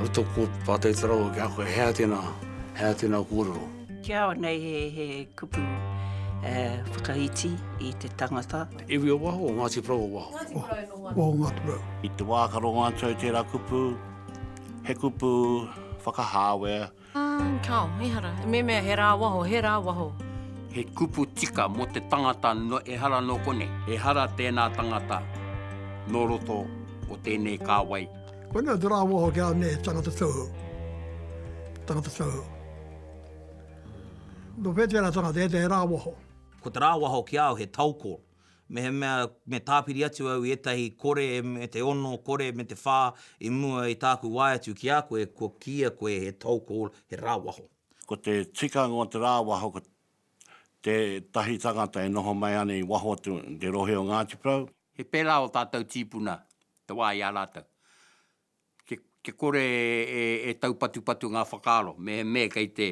Roto ko Pātai Tarau ki a koe, hea tēnā, hea tēnā kōrero? Kia ora, nei he, he kupu eh, whakaiti i te tangata. Te iwi o waho, Ngāti Porou o waho? Ngāti Porou nō waho. Waho Ngāti Porou. I te wā ka rongo atu ai tērā kupu, he kupu whakahāwea. Kao, ehara, memea he ra waho, he ra waho. He kupu tika mo te tangata no ehara no konei. Ehara tena tangata no roto o tenei kawai. Koinei te ra waho kia me he tangata tohu, tangata tohu. No whetera tangata, he te he ra waho. Ko te ra waho ki au he tau koro. Mehemea me tāpiri atu au i ētahi kore me te ono, kore me te whā i mua i tāku wae atu ki a koe, kua kīia koe he toll call, he rāwaho. Ko te tikanga o te rāwaho ko tētahi tangata e noho mai ana i waho atu i te rohe o Ngāti Porou. He pērā ō tātou tīpuna te wā i a rātou. Kia kore e taupatupatu ngā whakaaro, mehemea kei te,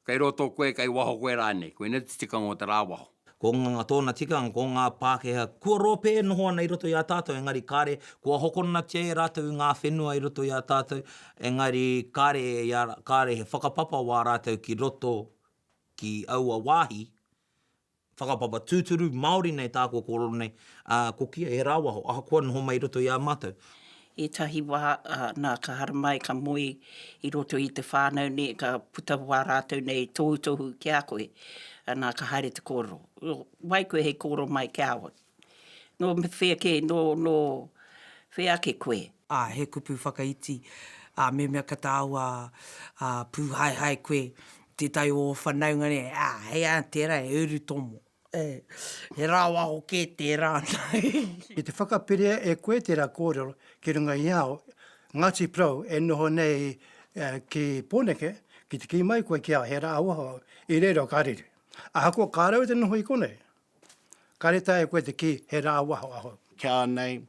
kei roto koe, kei waho koe rānei, koinei te tikanga o te rāwaho. Ko ngā, tōna tikanga, ko ngā Pākehā kua rōpē e noho ana i roto i a tātou, engari kāre, kua hokonatia e rātou i ngā whenua i roto i a tātou, engari kāre, kāre he whakapapa wā rātou ki roto, ki aua wāhi, Whakapapa tūturu, Māori nei tā kua kōrero nei, ā, ko Kia he rāwaho, ahakoa noho mai i roto i a mātou. Ētahi wā, nā, ka haramai, ka moe i roto i te whānau nei, ka puta wā rātou nei tohutohu ki a koe, nā, ka haere te kōrero. Wai koe hei kōrero mai ki a au? Nō whea kē, nō, nō whea ake koe? Ā, he kupu whakaiti, ā, mehemea ka tāua, ā, pūhaehae koe, tētahi o ō whanaunga nei, ā, hei ā, tērā e uru tomo. Ē, he rāwaho kē tērā nei. Ki te whakapiria e koe tērā kōrero ki runga i ao Ngāti Porou e noho nei ki Pōneke, ki te kī mai koe ki a au he rāwaho i reira o Karere. Ahakoa kāre au te noho i konei, Ka reta e koe te kī, he rā waho ahau. Ki a nei,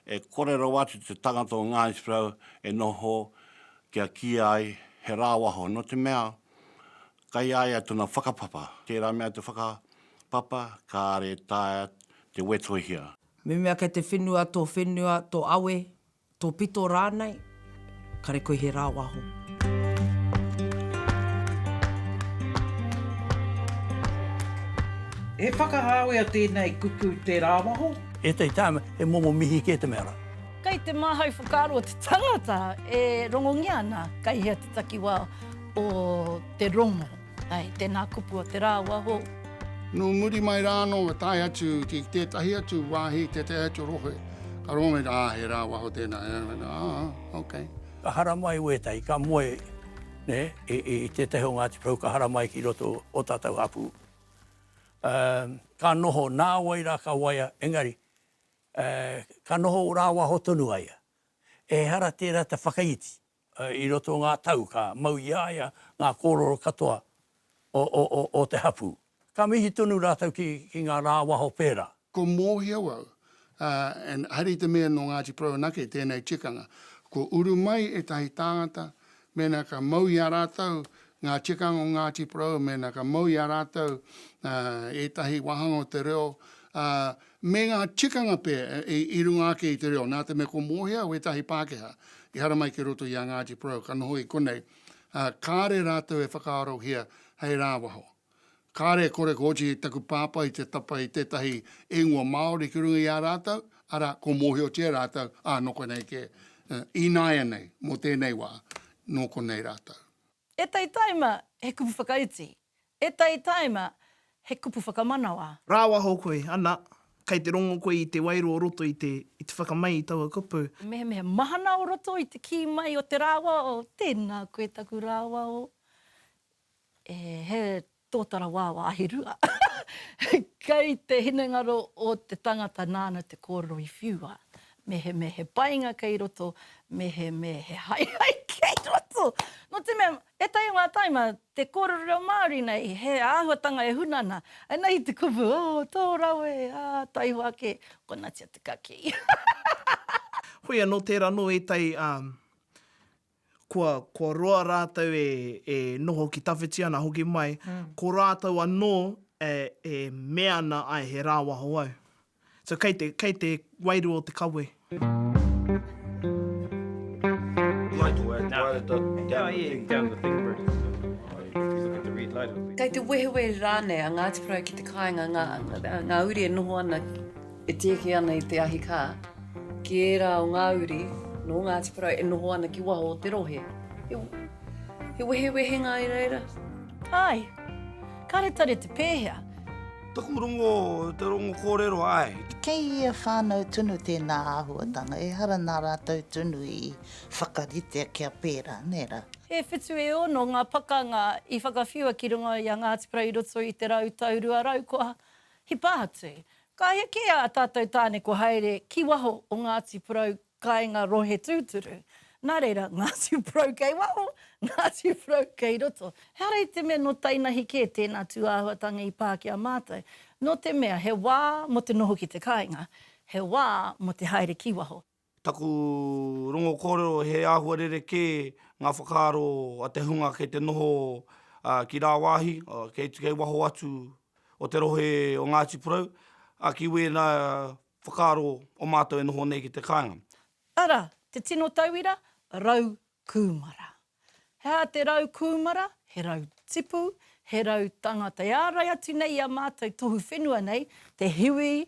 e kore rawa atu te tangata o Ngāi Thorou e noho kia kī ai he rā waho, nō te mea, kai a ia tana whakapapa. Tērā mea te whakapapa, kāre taea te wetohia. Me mea kei te whenua tō whenua, tō awe, Tōpito rānei, kare koe he rāwaho. He whakahāwea tēnei kupu te rāwaho? Ētahi tāima, he momo mihi kē te mea rā. Kei te māhau whakaaro o te tangata e rongongia ana kei hea te takiwā o te rongo. Ai, tēnā kupu o te rā o waho. Nō muri mai rā anō ka tae atu ki tētahi atu wāhi, tētahi atu rohe, ka rongo rā, ā, he rā o waho tēnā, ā, ā, okay. Ka haramai i wētahi, ka moe, nē, i, i tētahi o Ngāti Porou, ka haramai ki roto o tātou hapū. Uh, ka noho, nā wai rā ka waia, engari, uh, ka noho rā waho tonu aia. Ehara tērā te whakaiti. I roto o ngā tau ka mau i a ia ngā kōrero katoa o te hapū. Ka mihi tonu rātou ki ngā rā waho pērā. Ko Mōhio au, ā, and haere i te mea nō Ngāti Porou anake tēnei tikanga. Kua uru mai ētahi tāngata, mēnā ka mau i a rātou ngā tikanga o Ngāti Porou, mēnā ka mau i a rātou ētahi wāhanga o te reo, ā, Me ngā tikanga pea i runga ake i te reo, nā te mea ko Mōhia wētahi Pākehā i haramai ki roto i a Ngāti Porou ka noho i konei, ā, kāre rātou e whakaarohia hei rāwaho. Kāre e kore koti taku pāpā i te tapa i tētahi ingoa Māori ki runga i a rātou, arā, ko Mōhiotia rātou, ā, nō konei kē. Ināianei, mō tēnei wā, nō konei rātou. E Taitaima, he kupu whakaiti. E Tai Taima, he kupu whakamanawa. Rāwaho koe, ana, kei te rongo koe i te wairua o roto i te, i te whakamai i taua kupu. Mehemea mahana o roto i te kī mai o te rāwaho, tēnā koe taku rāwaho. E, he tōtara wāwa ahirua. Kei te hinengaro o te tangata nāna te kōrero i whiua. Mehemea he painga kei roto, mehemea he haehae kei roto. Nō te mea, Ētahi o ngā taima, te kōrero reo Māori nei, he āhuatanga e huna ana. Ēnei te kupu, oh, tō rawe, ā, taihoa ake, konatia te kakī. Hoi anō, tērā anō ētahi, ā, kua, kua roa rātou e, e noho ki tawhiti ana hoki mai, ko rātou anō e, e mea ana, āe, he rāwaho au. So kei te, kei te wairua o te kawe. Kei te wehewehe rānei a Ngāti Porou ki te kāinga ngā, ngā uri e noho ana, e tieki ana i te ahikā, ki ērā o ngā uri nō Ngāti Porou e noho ana ki waho o te rohe. He, he wehewehenga i reira. Āe. Kāre tare te pēhea. Taku rongo, te rongo kōrero, āe. Kei ia whānau tunu tēnā āhuatanga, ehara nā rātou tunu i whakaritea kia pērā, nē rā. E whitu, e ono ngā pakanga i whakawhiua ki runga i a Ngāti Porou i roto i te rau tau rua rau kua hipa atu. Ka heke ā tātou tāne kua haere ki waho o Ngāti Porou Kāinga rohe tūturu. Nā reira, Ngāti Porou kei waho, Ngāti Porou kei roto. He ara i te mea nō tainahi kē tēnā tūāhuatanga i pā ki a mātou, nō te mea he wā mō te noho ki te kāinga, he wā mō te haere ki waho. Taku rongo kōrero he āhua rerekē ngā whakaaro a te hunga kei te noho ki rāwāhi, kei waho atu o te rohe o Ngāti Porou, ki wēnā Whakaaro o mātou e noho nei ki te kāinga. Ara, te tino tauira, rau kūmara. He aha te rau kūmara? He rau tipu, he rau tangata. E ārai atu nei i a mātou tohu whenua nei, te hiwi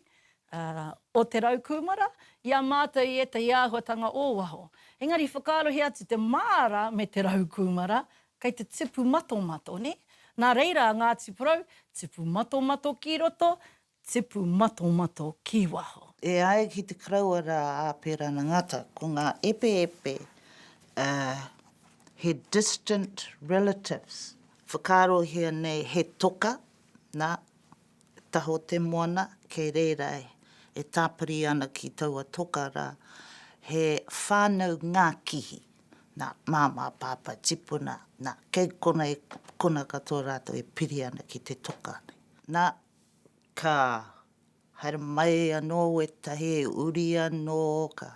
o te rau kūmara, i a mātou i ētahi āhuatanga o waho. Engari whakaarohia atu te māra me te rau kūmara, kei te tipu matomato, nē? Nā reira a Ngāti Porou, tipu matomato ki roto, Tipu matomato ki waho. E ai ki te karaua rā a Pērana Ngata, ko ngā epeepe, ā, he distant relatives. Whakaarohia nei he toka, nā, taho te moana, kei reira e tāpiri ana ki taua toka rā, he whānau ngākihi, nā, māmā, pāpā, tipuna, nā, kei konei, kona katoa rātou e piri ana ki te toka nei. Nā, Ka haere mai anō wētahi uri anō, ka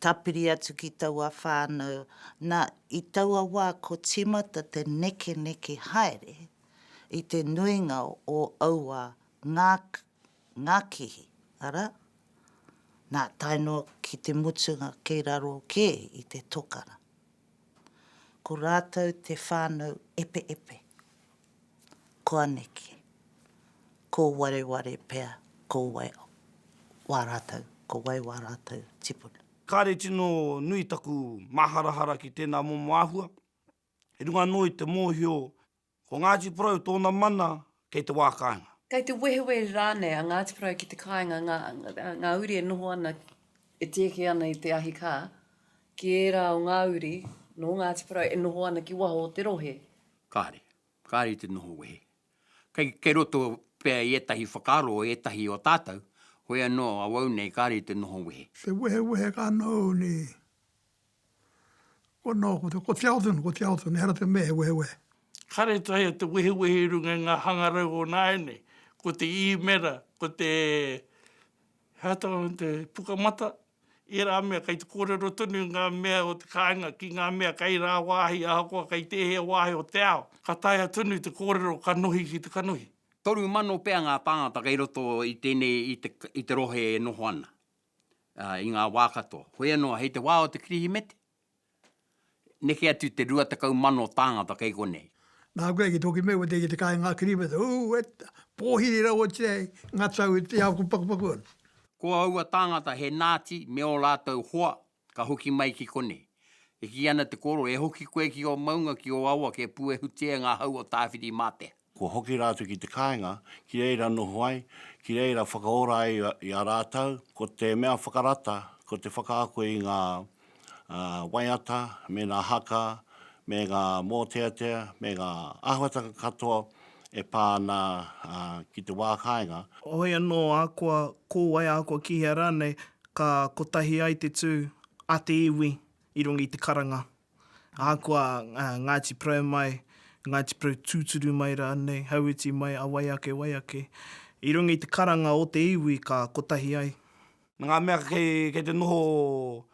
tāpiri atu ki taua whānau. Na, i taua wā ko tīmata te nekeneke haere i te nuinga o aua ngākihi, arā, nā, tae noa ki te mutunga kei raro kē i te tokara. Ko rātou te whānau epeepe. koaneke, ko wareware pea, ko wai wā rātou, ko wai wā rātou tipuna. Kāre tino nui taku māharahara ki tēnā momo āhua, i runga anō i te mōhio ko Ngāti Porou tōna mana kei te wā kāinga. Kei te wehewehe rānei a Ngāti Porou ki te kāinga, ngā uri e noho ana, e tieke ana i te ahi kā, ki ērā o ngā uri nō Ngāti Porou e noho ana ki waho o te rohe, Kāre. Kāre i te noho wehe. Kei, kei roto pea i ētahi whakaaro o ētahi o tātou, hoi anō awau nei kāre i te noho wehe. Te wehewehe ka noho nei. Ko nō, ko te, ko te ao tonu, ko te ao tonu, ehara te mea he wehewehe. Kāre e taea te wehewehe i runga i ngā hangarau o nāianei. Ko te īmera, ko te, he aha te, te pukamata, ērā mea kei te kōrero tonu ngā mea o te kāinga ki ngā mea kei rāwāhi ahakoa kei tēhea wāhi o te ao, ka taea tonu te kōrero kanohi ki te kanohi. Toru mano pea ngā tāngata kei roto i tēnei i te rohe e noho ana i ngā wā katoa. Hoi anō, hei te wā o te Kirihimete, Neke atu te rua tekau mano tāngata kei konei. Nā koe ki tōki mea kua teke te kāinga kirīmata, ū, e ta, pōhiri rawa tia ai ngā tau i te ao kua pakupaku ana. Ko aua tāngata he Nāti me ō rātou hoa ka hoki mai ki konei. E kī ana te kōrero, e hoki koe ki ō maunga, ki ō awa kia puehutia e ngā hau o Tāwhirimātea. Kua hoki rātou ki te kāinga, ki reira noho ai, ki reira whakaora ai i a rātou, ko te mea whakarata, ko te whakaako i ngā waiata, me ngā haka, me ngā mōteatea, me ngā āhuatanga katoa e pā ana ki te wā kāinga. Hoi anō, ahakoa ko wai, ahakoa ki hea rānei, ka kotahi ai te tū a te iwi i runga i te karanga. Ahakoa Ngāti Porou mai, Ngāti Porou tūturu mai rānei, Hauiti mai, a wai ake, wai ake, i runga i te karanga o te iwi ka kotahi ai. Nā ngā mea kei te noho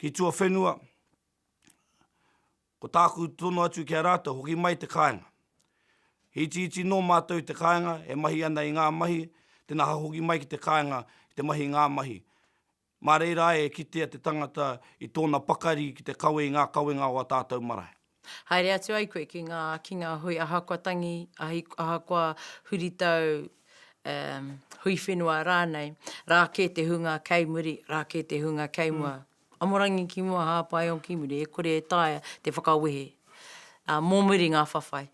ki tuawhenua, ko tāku tono atu ki a rātou, hoki mai te kāinga. He itiiti nō mātou i te kāinga, e mahi ana i ngā mahi, tēnā ka hoki mai ki te kāinga ki te mahi i ngā mahi. Mā reira e kitea te tangata i tōna pakari ki te kawe i ngā kawenga o ā tātou marae. Haere atu ai koe ki ngā, ki ngā hui ahakoa tangi, ahakoa huritau, um, hui whenua rānei, rā kē te hunga kei muri, rā kē te hunga kei mua. Amorangi ki mua, Hāpaio ki muri, e kore e taea te whakawehe, ā, mō muri ngā whawhai.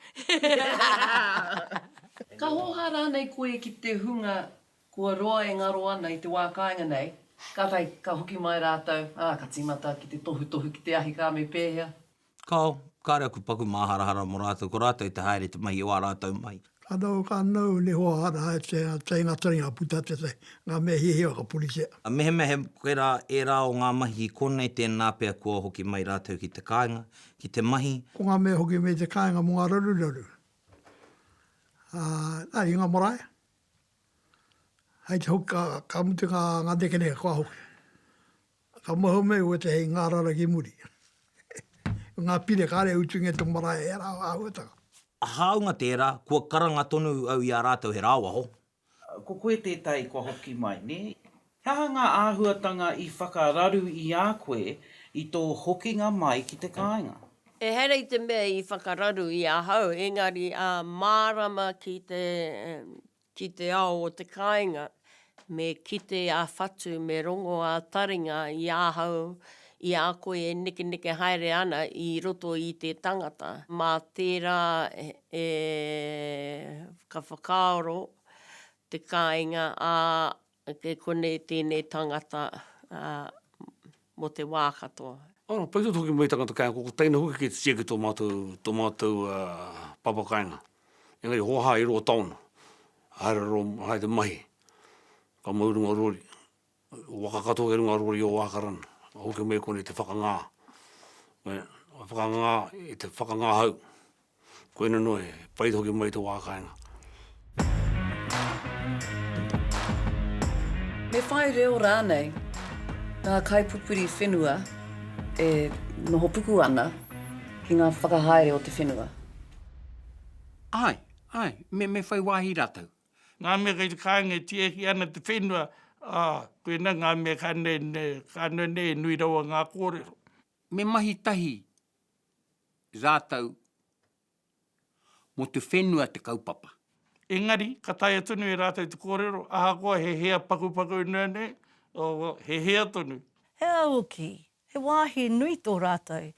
Ka hōhā rānei koe ki te hunga Kua roa e ngaro ana i te wā kāinga nei, kātahi ka hoki mai rātou, ā, ka tīmata ki te tohutohu ki te ahi ka me pēhea. Kāo, kāre aku paku māharahara mō rātou, ko rātou i te haere i te mahi o ā rātou mahi. Ka noho, ka nou, ni hoa hara hai te teina taringa puta te te, ngā mea hiahia ka puritia. A mehemea he koera ērā o ngā mahi ki konei tēnā pea kua hoki mai rātou ki te kāinga, ki te mahi. Ko ngā mea hoki mai i te kāinga mō ngā raruraru, ā, nā, i ngā marae, Hai te hoki ka mutu ngā nekeneke kua hoki. Ka mua hou mai wētahi hei ngārara ki muri. Ko ngā pire kāre e utungia e te marae e rā āhuatanga. Hāunga tērā, kua karanga tonu au i a rātou he rāwaho. Ko koe tētahi kua hoki mai, nē? He aha ngā āhuatanga i whakararu i a koe i tō hokinga mai ki te kāinga? Ehara i te mea i whakararu i ahau, engari ā mārama ki te ki te ao o te kāinga, me kite ā-whatu, me rongo ā-taringa i ahau, i a koe e nekeneke haere ana i roto i te tangata. Mā tērā e ka whakaaro te kāinga, ā, Ake konei tēnei tangata mō te wā katoa. Ara, pai tō ki tangata kai ako, ko teina hoki kei te tiaki tō mātou, tō mātou papa kainga. Engari hoa ha i roa taona, haere ro, haere te mahi, ka mau runga rori, waka katoa ki runga rori o Ākarana, hoki mai koni te whakangā, whakangā, te whakangā hau. Koina noa e pai hoki mai te wā kāinga. Me whai reo rānei ngā kaipupuri whenua e nohopuku ana ki ngā whakahaere o te whenua? Āe, āe, me, me whai wāhi rātou. Ngā mea kei te kāinga e tiaki ana te whenua, ā, koina ngā mea ka, ka nui rawa ngā kōrero. Me mahi tahi rātou mō te whenua te kaupapa. Engari, ka taea tonu e rātou te kōrero, ahakoa he hea pakupaku noa nei, he hea tonu. He au hoki, he wāhi nui tō rātou,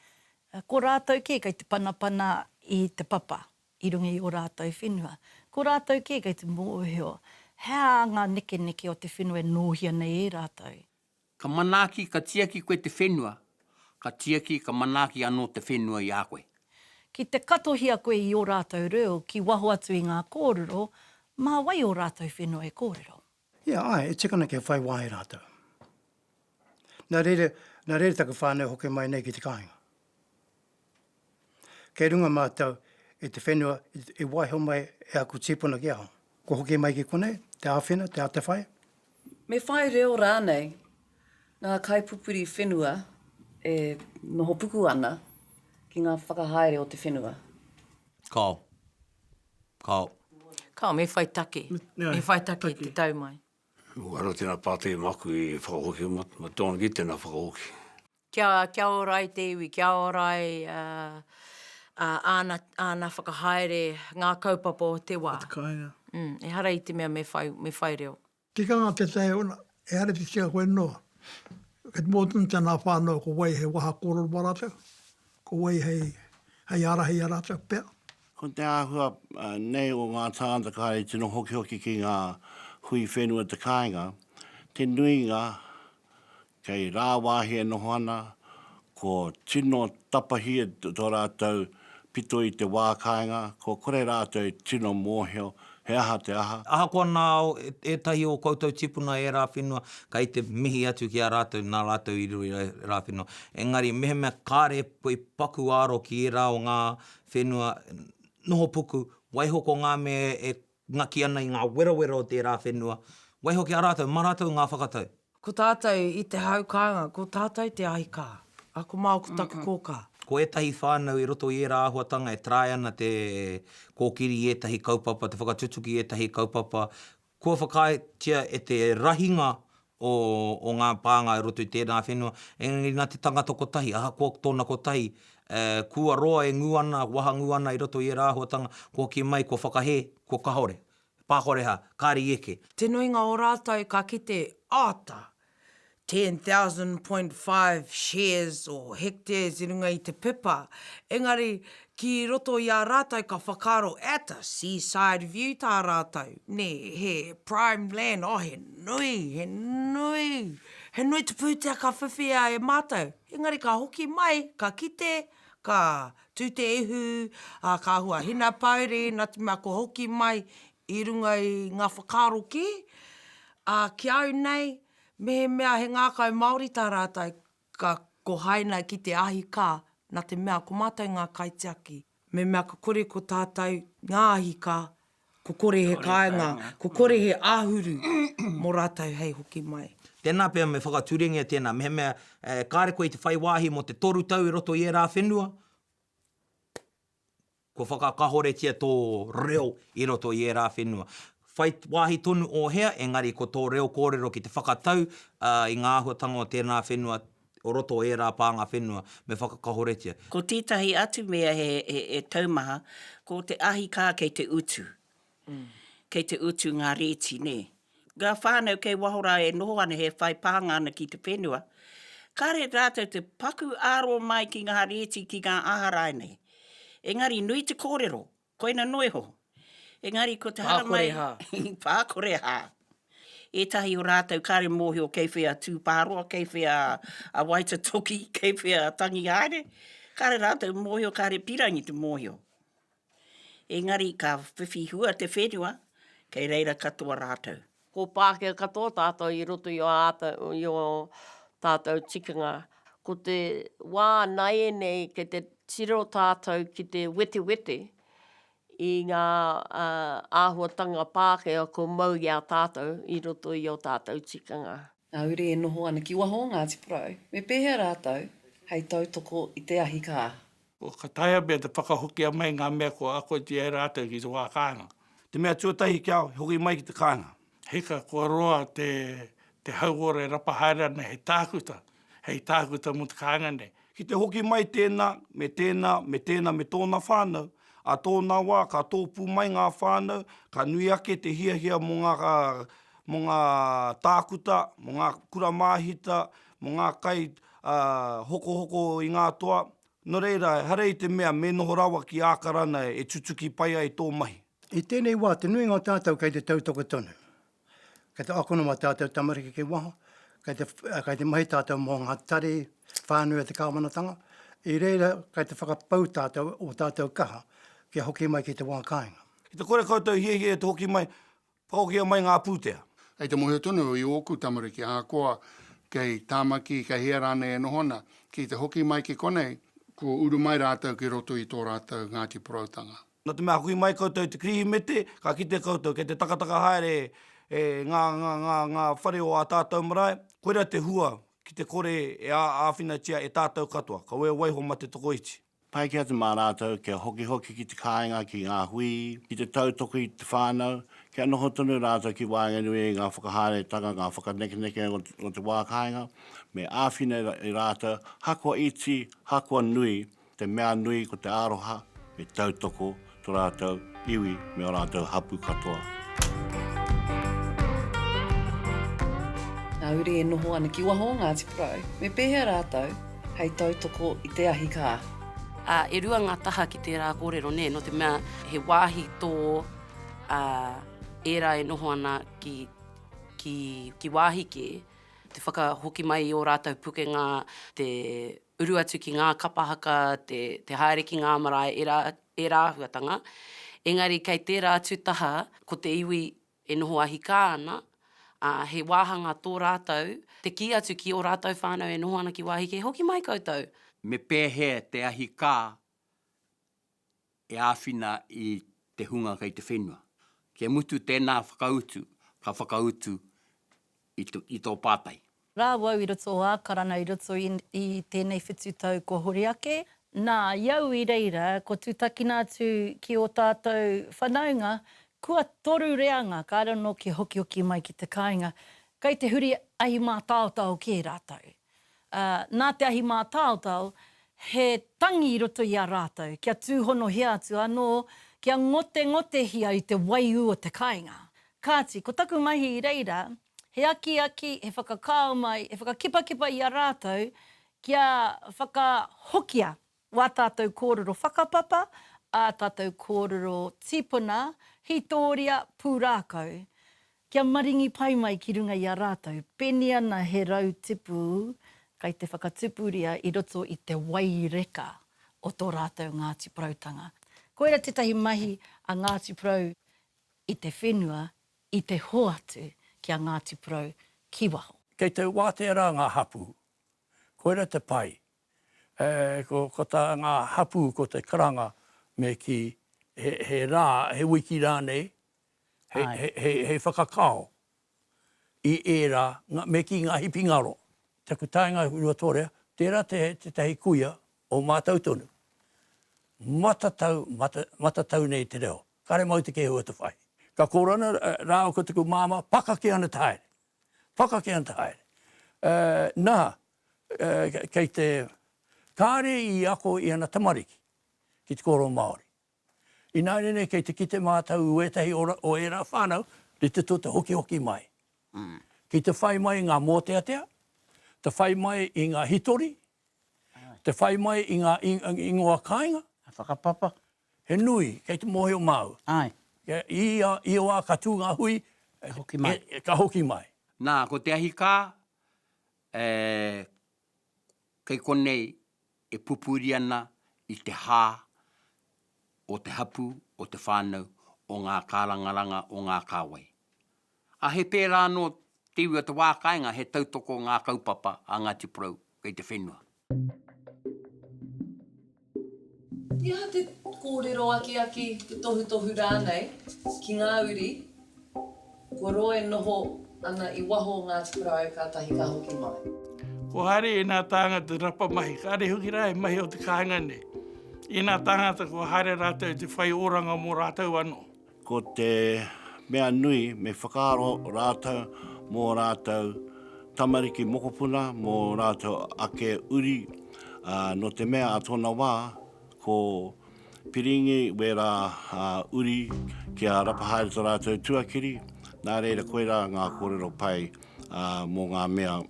ko rātou kē kei te panapana i te papa i runga i ō rātou whenua. Ko rātou kē kei te mōhio hea ngā nekeneke o te whenua e nōhia nei e rātou. Ka manaaki, ka tiaki koe te whenua, ka tiaki, ka manaaki anō te whenua i a koe. Ki te katohia koe i ō rātou reo ki waho atu i ngā kōrero, mā wai ō rātou whenua e kōrero? Ia, āe, e tika ana kia whai wā e rātou. Nā reira, nā reira taku whānau hoki mai nei ki te kāinga. Kei runga mātou i te whenua i waiho mai e aku tīpuna ki ahau. Kua hoki mai ki konei, te āwhina, te atawhai. Me whai reo rānei ngā kaipupuri whenua e noho puku ana ki ngā whakahaere o te whenua. Kao. Kao. Kao, me whai take. Me whai take i te tau mai. Anō tēnā pātai māku i whakahokia, ma Don Gee tēnā whakahoki. Kia, kia ora ai te iwi, kia ora ai āna, āna whakahaere, ngā kaupapa o te wā. O te kāinga. Mm, ehara i te mea me whai, me whai reo. Tikanga te tae ona, ehara i te tika koe noa. Kei te mōtemutia ngā whānau ko wai hei waha kōrero mō rātou, ko wai hei, hei ārahi i a rātou pea. Ko te āhua nei o ngā tāngata kāre i tino hokihoki ki ngā hui whenua te kāinga, te nuinga Kei rāwāhi e noho ana, ko tino tapahi tō rātou pito i te wā kāinga, kua kore rātou e tino mōhio he aha te aha. Ahakoa nā ētahi o koutou tīpuna ērā whenua, kei te mihi atu ki a rātou nā rātou i riro i ērā whenua. Engari mehemea kāre koe i paku aro ki ērā o ngā whenua nohopuku, waiho ko ngā mea e Ngaki ana i ngā werawera o tērā whenua, waihoki a rātou, mā rātou ngā whakatau. Ko tātou i te hau kānga, ko tātou te ahikā, ā, ko Mao ko taku kōkā. Ko ētahi whānau i roto i ērā āhuatanga e taea ana te kōkiri i ētahi kaupapa, te whakatutuki i ētahi kaupapa kua whakaaetia e te rahinga o, o ngā pānga i roto i tēnā whenua, engari nā te tangata kotahi, ahakoa tōna kotahi, e, kua roa e ngū ana, wahangū ana i roto i ērā āhuatanga, kua hoki mai, kua whakahē, kua kahore, pākoreha, kāre i eke. Te nuinga o rātou ka kite, āta! 10,000 point five shares or hectares i runga i te pepa, engari Ki roto i a rātou ka whakaaro at a seaside view tā rātou, nē, he prime land, oh he nui, he nui, he nui te pūtea ka whiwhia e mātou. Engari ka hoki mai, ka kite, ka tū te ihu, ā, ka hua hinapōuri, nā te mea kua hoki mai i runga i ngā whakaaro kē, ā, ki au nei, mehemea he ngākau Māori tā rātou, Ka kohaina ki te ahi ka, na te mea ko matou nga kaitiaki. Me mea ka kore ko tatou nga ahi ka, ko kore he kainga, ko kore he ahuru mo ratou hei hoki mai. Tena pea me whakaturengia tena, mehemea kare koe i te whai wahi mo te toru tau i roto i era whenua, Kua whakakahoretia tō reo i roto i ērā whenua. Whai wāhi tonu ō hea, engari ko tō reo kōrero ki te whakatau i ngā āhuatanga o tēnā whenua, o roto o ērā pānga whenua, me whakakahoretia. Ko tētahi atu mea e taumaha, ko te ahi kā kei te utu. Kei te utu ngā rēti, nē. Ngā whānau kei waho rā e noho ana he whai pānga ana ki te whenua, kāre rātou te paku āro mai ki ngā rēti ki ngā aha rānei. Engari nui te kōrero, koina noa iho. Engari ko te haramai... Pākore hā. Pākore hā. Ētahi o rātou kāre mōhio kei whea Tūpāroa, kei whea a Waitatoki, kei whea a Tangihaere. Kāre rātou mōhio, kāre pīrangi te mōhio. Engari ka whiwhi hua te whenua, kei reira katoa rātou. Ko Pākehā katoa tātou i roto i ō tātou tikanga. Ko te wā nāianei kei te tiro tātou ki te wetewete i ngā āhuatanga Pākehā kua mau i a tātou i roto i ō tātou tikanga. Ngā uri e noho ana ki waho o Ngāti Porou, me pēhea rātou hei tautoko i te ahi kā? Kua ka taea pea te whakahokia mai ngā mea kua akotia e rātou ki te wā kāinga. Te mea tuatahi kia hoki mai ki te kāinga. Hika kua roa te hauora e rapa haere ana hei tākuta, hei tākuta mō te kāinga nei. Ki te hoki mai tēnā, me tēnā, me tēnā me tōna whānau, ā tōna wā ka tōpū mai ngā whānau, ka nui ake te hiahia mō ngā tākuta, mō ngā kura māhita, mō ngā kai hokohoko i ngā toa, nō reira, ehara i te mea me noho rawa ki Ākarana e tutuki pai ai tō mahi. I tēnei wā, te nuinga o tātou kei te tautoko tonu. Kei te akona mā tātou tamariki ki waho, kei te, kei te mahi tātou mō ngā tari whānui a te kāwanatanga, i reira kei te whakapau tātou o tātou kaha kia hoki mai ki te wā kāinga. Ki te kore koutou hiahia e te hoki mai, Paokia mai ngā pūtea. Hei te mōhio tonu i ōku tamariki ahakoa kei Tāmaki, kei hea rānei e noho ana, ki te hoki mai ki konei, kua uru mai rātou ki roto i tō rātou Ngāti Poroutanga. Nā te mea hoki mai koutou i te Kirihimete, ka kite koutou kei te takataka haere e ngā, ngā, ngā, ngā whare o ā tātou marae, koirā te hua ki te kore e āwhinatia e tātou katoa, ka waiho mā te tokoiti. Taiki atu mā rātou kia hokihoki ki te kāinga, ki ngā hui, ki te tautoko i te whānau, kia noho tonu rātou ki waenganui i ngā whakahaeretanga, ngā whakanekeneke o te wā kāinga, me āwhina e rātou, hakoa iti, hakoa nui, te mea nui ko te aroha, me tautoko to ratou iwi me o ratou hapu katoa. Nā Uri e noho ana ki waho o Ngāti Porou, me pēhea rātou hei tautoko i te ahi kā? Ā, e rua ngā taha ki tērā kōrero, nē, nō te mea he wāhi tō ā, ērā e noho ana ki, ki, ki wāhi kē, te whakahoki mai i ō rātou pukenga, te uru atu ki ngā kapa haka, te, te haere ki ngā marae, ērā, ērā āhuatanga. Engari kei tērā atu taha, ko te iwi e noho ahikā ana, ā, he wāhanga tō rātou, te kī atu ki ō rātou whānau e noho ana ki wāhi kē, hoki mai koutou! Me pēhea te ahikā e āwhina i te hunga kei te whenua. Kia mutu tēnā whakautu, ka whakautu i tō pātai. Rā wau i roto o Ākarana i roto i tēnei whitu tau kua huri ake. Nā, i au i reira, kua tūtakina atu ki ō tātou whanaunga, kua toru reanga ka raro nōki hokihoki mai ki te kāinga, kei te huri ahi mātaotao kē rātou. ā, nā te ahi mātaotao, he tangi i roto i a rātou, kia tūhonohia atu anō, kia ngotengotehia i te waiū o te kāinga. Kāti, ko taku mahi i reira, he akiaki, he whakakao mai, he whakakipakipa i a rātou, kia whakahokia Wā tātou kōrero whakapapa, ā tātou kōrero tīpuna, hītōria, pūrākau. Kia maringi pai mai ki runga i a rātou, peni ana he rau tipu kai te whakatupuria i roto i te wai reka o tō rātou Ngāti Porautanga. Koira tētahi mahi a Ngāti Porou i te whenua, i te hoatu ki a Ngāti Porou ki waho. Kei te wātea rā ngā hapū. Koira te pai, Ko tā ngā hapū ko te karanga me kī he rā, he wiki rānei, hei whakakao i ērā, me kī ngā hipi ngaro. Taku taenga i Ruatorea, tērā tētahi kuia o mātou tonu. Matatau, matatau nei te reo. Kare mau te kēhua te whai. Ka kōrana rāua ko taku māmā, pakake ana te haere. Whakake anta haere. Uh, nā, uh, kei te kāre i ako i ana tamariki ki te kōrero Māori. Ināiane nei kei te kite mātou i wētahi o, o ērā whānau, te tito te hokihoki mai. Mm. Ki te whai mai ngā mōteatea, te whai mai i ngā hitori, te whai mai i ngā ingoa kāinga. Whakapapa. He nui, kei te mōhio māu. Āe. I ia wā ka tū ngā hui, ka hoki mai. Nā, ko te ahi kā, e, kei konei e pupuri ana i te hā o te hapū, o te whānau, o ngā kārangaranga o ngā kāwai. A he pērā anō te iwi o te wā kāinga he tautoko ngā kaupapa a Ngāti Porou kei te whenua. He aha te kōrero akiaki, te tohutohu rānei ki ngā uri kua roa e noho ana i waho o Ngāti Porou kātahi ka hoki mai? Ko haere ēnā tāngata te rapa mahi, kāre hoki rā he mahi o te kāinga nei. Ēnā tāngata kua haere rātou te whai oranga mō rātou anō. Ko te mea nui, me whakaaro rātou mō rātou tamariki mokopuna, mō rātou ake uri, ā, nō te mea ā tōna wā, ko Piringi wērā uri kia rapa haere tō rātou tuakiri, nā reira koirā ngā kōrero pai mō ngā mea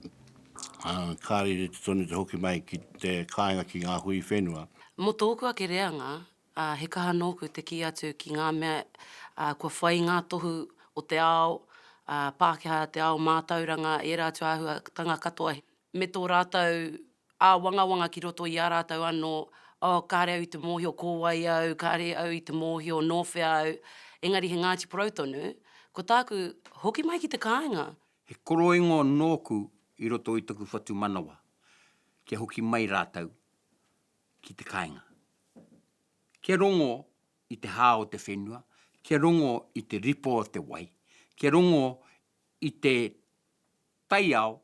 ka rere tonu te hoki mai ki te kāinga ki ngā hui whenua. Mō tōku ake reanga, ā, he kaha nōku te kī atu ki ngā mea kua whai i ngā tohu o te ao Pākehā, te ao mātauranga, ērā atu āhuatanga katoa, me tō rātou āwangawanga ki roto i a rātou anō, oh, kāre au i te mōhio ko wai au, kāre au i te mōhio nō whea au, engari he Ngāti Porou tonu, ko tāku, hoki mai ki te kāinga. He koroingo nōku i roto i taku whatumanawa, kia hoki mai rātou, ki te kāinga. Kia rongo i te hā o te whenua, kia rongo i te ripo o te wai, kia rongo i te taiao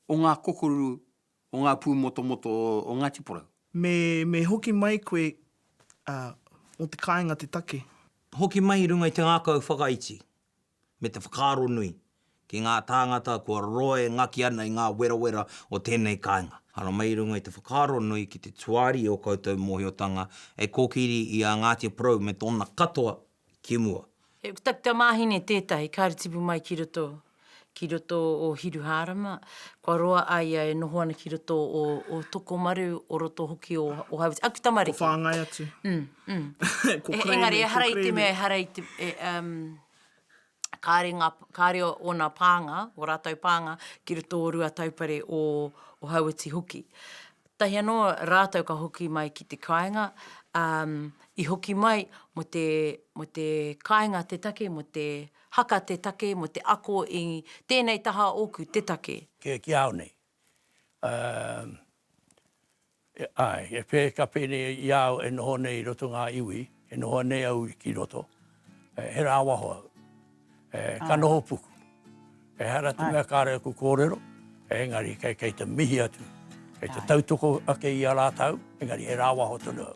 o ngā kokoru, o ngā pūmotomoto o Ngāti Porou. Me, me hoki mai koe, ā, mō te kāinga te take. Hoki mai i runga i te ngākau whakaiti. me te whakaaro nui ki ngā tāngata kua roa e ngaki ana i ngā werawera o tēnei kāinga. Arā, mai i runga i te whakaaro nui ki te tuari i ō koutou mōhiotanga hei kōkiri i a Ngāti Porou me tōna katoa ki mua. He kutakuta māhine tētahi, kāre tipu mai ki roto, ki roto o Hiruhārama, kua roa a ia e noho ana ki roto o Tokomaru, o roto hoki o Hauraki, aku tamariki. Kua whāngai atu. Ko Crane e ko Crane. Kāre ngā, kāre ōna pānga, ō rātou pānga, ki roto o Ruataupare o Hauiti hoki. Tahi anō rātou ka hoki mai ki te kāinga, i hoki mai mo te, mo te kāinga te take, mo te haka te take, mo te ako i tēnei taha ōku te take. Kē, ki au nei. Āe, e whē, ka whē nei i a au e noho nei i roto ngā iwi, e noho anei au ki roto, he rāwaho au, ka noho puku. Ehara atu mea kāre aku kōrero, engari kei te mihi atu, kei te tautoko ake i a rātau, engari he rāwaho tonu au.